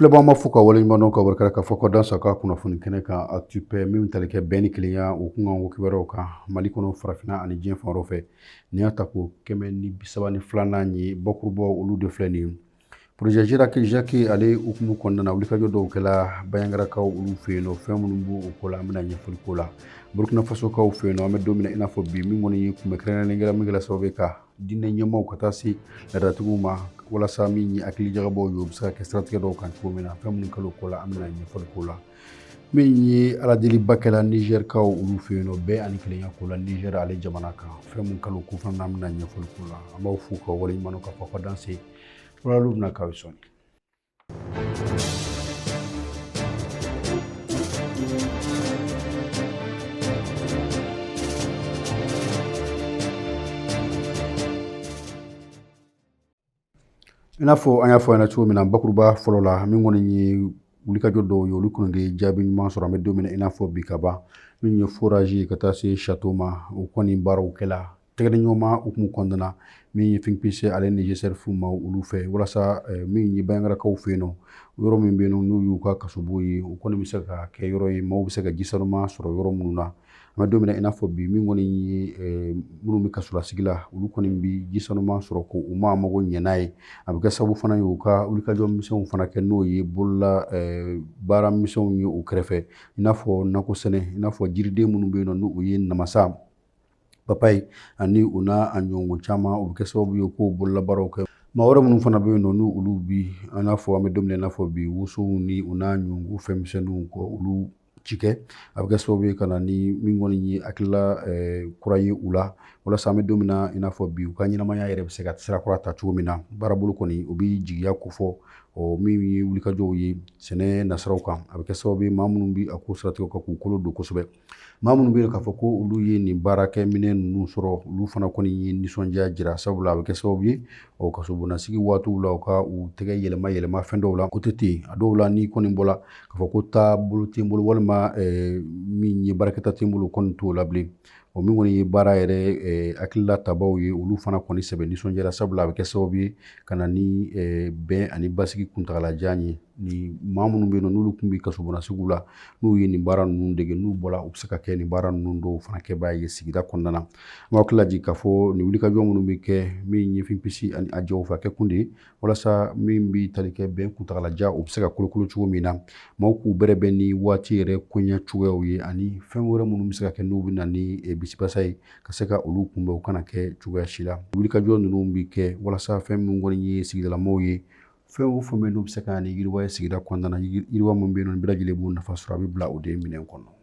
filɛbaaw n b'aw fo ka waleɲumandɔn ka barika k'a fɔ ko danse aw ka kunnafoni kɛnɛ kan actu paix min tali kɛ bɛn ni kelenya o kun kan kibaruyaw kan mali kɔnɔ farafinna ani diɲɛ fan wɛrɛw fɛ nin y'a tako kɛmɛ ni bisaba ni filanan ye bakurubɔ olu de filɛ nin ye projet jiraki jaki ale hukumu kɔnɔna na wulikajɔ dɔw kɛla bayangarakaw olu fɛ yen nɔ fɛn minnu b'o o ko la an bɛna ɲɛfɔli k'o la burkina fasokaw fɛ yen nɔ an bɛ don min na i n'a fɔ bi min kɔni ye kunbɛn kɛrɛnkɛrɛnnen kɛla min kɛla sababu ye ka diinɛ ɲɛmaaw ka taa se laadatigiw ma walasa min ye hakili jagabɔw ye o bɛ se ka kɛ siratigɛ dɔw kan cogo min na fɛn minnu kɛla o ko la an bɛna ɲɛfɔli k'o la min ye aladeliba kɛla nizɛrikaw olu fɛ yen nɔ bɛn ani kelenya ko la nizɛri ale jamana kan fɛn minnu kɛla o ko fana an bɛna ɲɛfɔli k'o la an b'aw fo ka waleɲuman k'a fɔ ka danse walalu bɛna k'aw sɔn I n'a fɔ an y'a fɔ aw ɲɛna cogo min na bakuruba fɔlɔ la min kɔni ye wulikajɔ dɔw ye olu kɔni de jaabi ɲuman sɔrɔ an bɛ don min na i n'a fɔ bi ka ban min ye forage ka taa se château ma o kɔni baaraw kɛla tɛgɛdiɲɔgɔnma hukumu kɔnɔna na min ye think peace ale ni gcerf maaw olu fɛ walasa eh, min ye bayangarakaw fɛ yen nɔ yɔrɔ min bɛ yen n'o y'u ka kasobon ye o kɔni bɛ se ka kɛ yɔrɔ ye maaw bɛ se ka ji sanuman sɔrɔ yɔrɔ minnu na an bɛ don min na i n'a fɔ bi min kɔni ye eh, minnu bɛ kasolasigi la olu kɔni bɛ ji sanuman sɔrɔ ko u ma mago ɲɛ n'a ye a bɛ kɛ sababu fana ye u ka wulikajɔ misɛnw fana kɛ n'o ye bolola eh, baara misɛnw ye u kɛrɛ fɛ i n'a fɔ nakɔ sɛnɛ i n'a fɔ jiriden minnu bɛ yen nɔ n'o ye namasa papaye ani u n'a a ɲɔgɔn caman o bɛ kɛ sababu ye k'o bololabaaraw kɛ maa wɛrɛ minnu fana bɛ yen nɔ n'u olu bi an n'a fɔ an bɛ don min na i n'a fɔ bi wosow ni u n'a ɲɔgɔn fɛn misɛnninw k'olu cikɛ a bɛ kɛ sababu ye ka na ni min kɔni ye hakilila kura ye u la walasa an bɛ don min na i n'a fɔ bi u ka ɲɛnamaya yɛrɛ bɛ se ka sira kura ta cogo min na baarabolo kɔni o bɛ jigiya ko fɔ ɔ min ye wulikajɔw ye sɛnɛ nasiraw kan a bɛ kɛ sababu ye maa minnu bɛ a ko siratigɛ kan k'u kolo don kosɛbɛ maa minnu bɛ yen k'a fɔ ko olu ye nin baarakɛminɛn ninnu sɔrɔ olu fana kɔni ye nisɔndiya jira sabula a bɛ kɛ sababu ye o kasobonasigi waatiw la u ka u tɛgɛ yɛlɛma yɛlɛma fɛn dɔw la ko tɛ ten a dɔw la n'i kɔni bɔla k'a fɔ ko taabolo tɛ n bolo walima eh, min ye baarakɛta tɛ n bolo kɔni t'o la bilen o min kɔni ye baara yɛrɛ eh, hakilila tabaw ye olu fana kɔni sɛbɛ nisɔndiyara sabula a bɛ kɛ sababu ye ka na ni eh, bɛn ani basigi kuntagalajan ye ni maa minnu bɛ yen n'olu tun bɛ kasobonnasigi la n'u ye nin baara ninnu dege n'u bɔra u bɛ se ka kɛ nin baara ninnu dɔw fana kɛbaa ye sigida kɔnɔna na an b'aw hakili lajigi k'a fɔ nin wulikajɔ minnu bɛ kɛ min ye finpsi ani a jɛw fɛ a kɛ kun de ye walasa min bɛ tali kɛ bɛn kuntagalajan o bɛ se ka kolokolo cogo min na maaw k'u bɛrɛ bɛn ni waati yɛrɛ koɲɛ cogoyaw ye ani fɛn wɛrɛ minnu bɛ se ka kɛ n'u bɛ na ni eh, bisibasa ye ka se ka olu kunbɛn u kana kɛ cogoya si la wulikajɔ ninnu bɛ kɛ walasa fɛn minnu kɔni ye sigidalamaw ye fɛn o fɛn bɛ yen n'o bɛ se ka ni yiriwa ye sigida kɔnɔna na yiriwa min bɛ yen nɔ bɛɛ lajɛlen b'o nafa sɔrɔ a bɛ bila o de minɛn kɔnɔ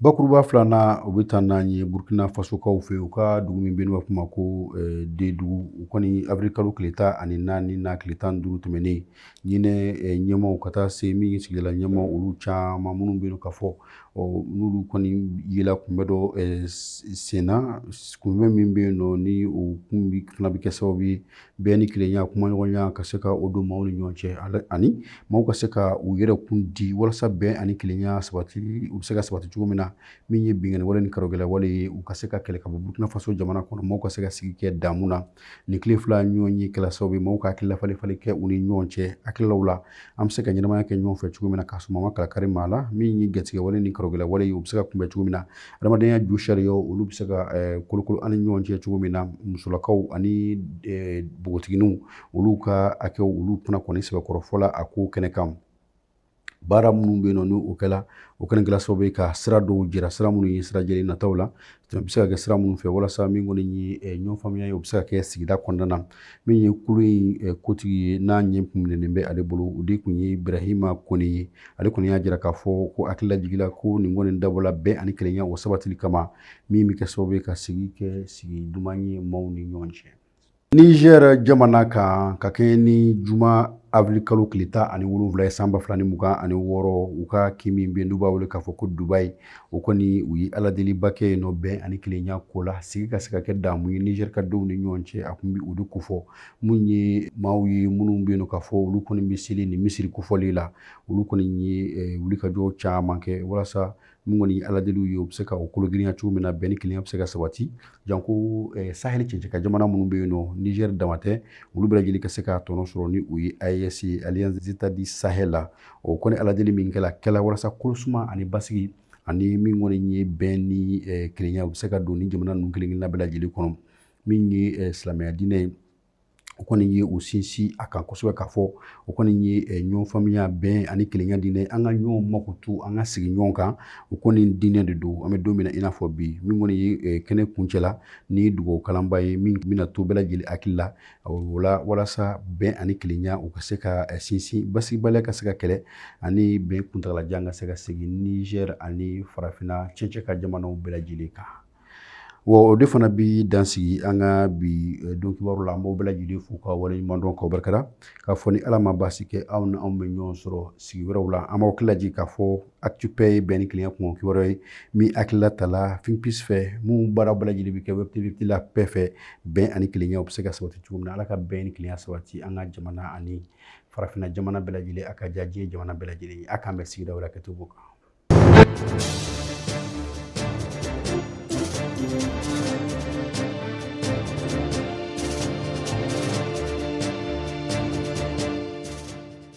bakuruba filanan o bɛ taa n'an ye burkina fasokaw fɛ yen u ka dugu min bɛ yen n'u b'a f'o ma ko eh, dedugu u kɔni avril kalo tile tan ani naani n'a tile tan ni duuru tɛmɛnen ɲinɛ eh, ɲɛmaaw ka taa se min ye sigidala ɲɛmaaw olu caman minnu bɛ yen k'a fɔ n'olu kɔni yela kunbɛn dɔ eh, senna kunbɛn min bɛ yen nɔ ni o kun fana bɛ kɛ sababu ye bɛn ni kelenya kumaɲɔgɔnya ka se ka o don maaw ni ɲɔgɔn cɛ ani maaw ka se ka u yɛrɛ kun di walasa bɛn ani kelenya sabati u bɛ se ka sabati cogo min na min ye binkanni wale ni karogɛlɛ wale ye u ka se ka kɛlɛ ka bɔ burkina faso jamana kɔnɔ maaw ka se ka sigi kɛ damu na nin tile fila ɲɔgɔnye kɛla sababu ye maaw ka hakilila falenfalen kɛ u ni ɲɔgɔn cɛ hakililaw la an bɛ se ka ɲɛnamaya kɛ ɲɔgɔn fɛ cogo min na k'a sɔrɔ ma kala kari maa la min ye gatigɛ wale ni karogɛlɛ wale ye u bɛ se ka kunbɛn cogo min na adamadenya josariyaw olu bɛ se ka eh, kolokolo an ni ɲɔgɔn cɛ cogo min na musolakaw ani eh, npogotigininw olu ka hakɛw olu fana kɔni sɛbɛkɔrɔ fɔla a ko kɛnɛ kan baara minnu bɛ yen nɔ n'o kɛla o kɛnɛ kɛla sababu ye ka sira dɔw jira sira minnu ye sira jɛlen nataw la a bɛ se ka kɛ sira minnu fɛ walasa min kɔni ye eh, ɲɔgɔn faamuya ye o bɛ se ka kɛ sigida kɔnɔna na min ye kulu in eh, kotigi ye n'a ɲɛ minɛnen bɛ ale bolo o de tun ye ibrahima kone ye ale kɔni y'a jira k'a fɔ ko hakili lajigila ko nin kɔni dabɔla bɛn ani kelenya o sabatili kama min bɛ kɛ sababu ye ka sigi kɛ sigi duman ye maaw ni ɲɔgɔn cɛ nizɛri jamana kan ka kɛɲɛ ni juma avril kalo tile tan ani wolonwula ye san ba fila ni mugan ani wɔɔrɔ u ka kin min bɛ yen n'u b'a wele k'a fɔ ko dubayi o kɔni u ye aladeliba kɛ yen nɔ bɛn ani kelenya ko la sigi ka se ka kɛ damu ye nizeri ka denw ni ɲɔgɔn cɛ a tun bɛ o de kofɔ minnu ye maaw ye minnu bɛ yen k'a fɔ olu kɔni bɛ seli ni misiri kofɔli la olu kɔni ye wulikajɔ caman kɛ walasa min kɔni ye aladeliw ye u bɛ se ka o kologirinya cogo min na bɛn ni kelenya bɛ se ka sabati janko saheli cɛncɛn kan jamana minnu bɛ yen nɔ nizeri dama tɛ olu bɛɛ lajɛlen ka se ka tɔnɔ sɔrɔ ni u ye aes alliance des états du sahel la o kɔni aladeli min kɛla kɛla walasa kolosuma ani basigi ani min kɔni ye bɛn ni kelenya u bɛ se ka don ni jamana ninnu kelen kelenna bɛɛ lajɛlen kɔnɔ min ye silamɛya diinɛ ye o kɔni ye u sinsin a kan kosɛbɛ k'a fɔ o kɔni ye eh, ɲɔgɔn faamuya bɛn ani kelenya diinɛ an ka ɲɔgɔn makoto an ka sigi ɲɔgɔn kan o kɔni diinɛ de don an bɛ don min na i n'a fɔ bi min kɔni ye eh, kɛnɛ kuncɛla ni dugawu kalanba ye min bɛna to bɛɛ lajɛlen hakili la la o la walasa bɛn ani kelenya u ka se ka eh, sinsin basigibaliya ka se ka kɛlɛ ani bɛn kuntagalajan ka se ka segin Niger ani farafinna cɛncɛ ka jamanaw bɛɛ lajɛlen kan wa o de fana bi dansigi an ka bi eh, don kibaru la an b'aw bɛɛ lajɛlen fo k'aw waleɲuman dɔn k'aw barikada k'a fɔ ni ala ma baasi kɛ aw ni anw bɛ ɲɔgɔn sɔrɔ sigi wɛrɛw la an b'aw hakililajigin k'a fɔ ActuPaix ye bɛn ni kelenya kunkan kibaru ye min hakilila tala finpis fɛ min baara bɛɛ lajɛlen bɛ kɛ web tv La Paix fɛ bɛn ani kelenya u bɛ se ka sabati cogo min na ala ka bɛn ni kelenya sabati an ka jamana ani farafinna jamana bɛɛ lajɛlen a ka diya diɲɛ jamana bɛɛ lajɛlen ye a k'an bɛn sigida wɛrɛ kɛcogo kan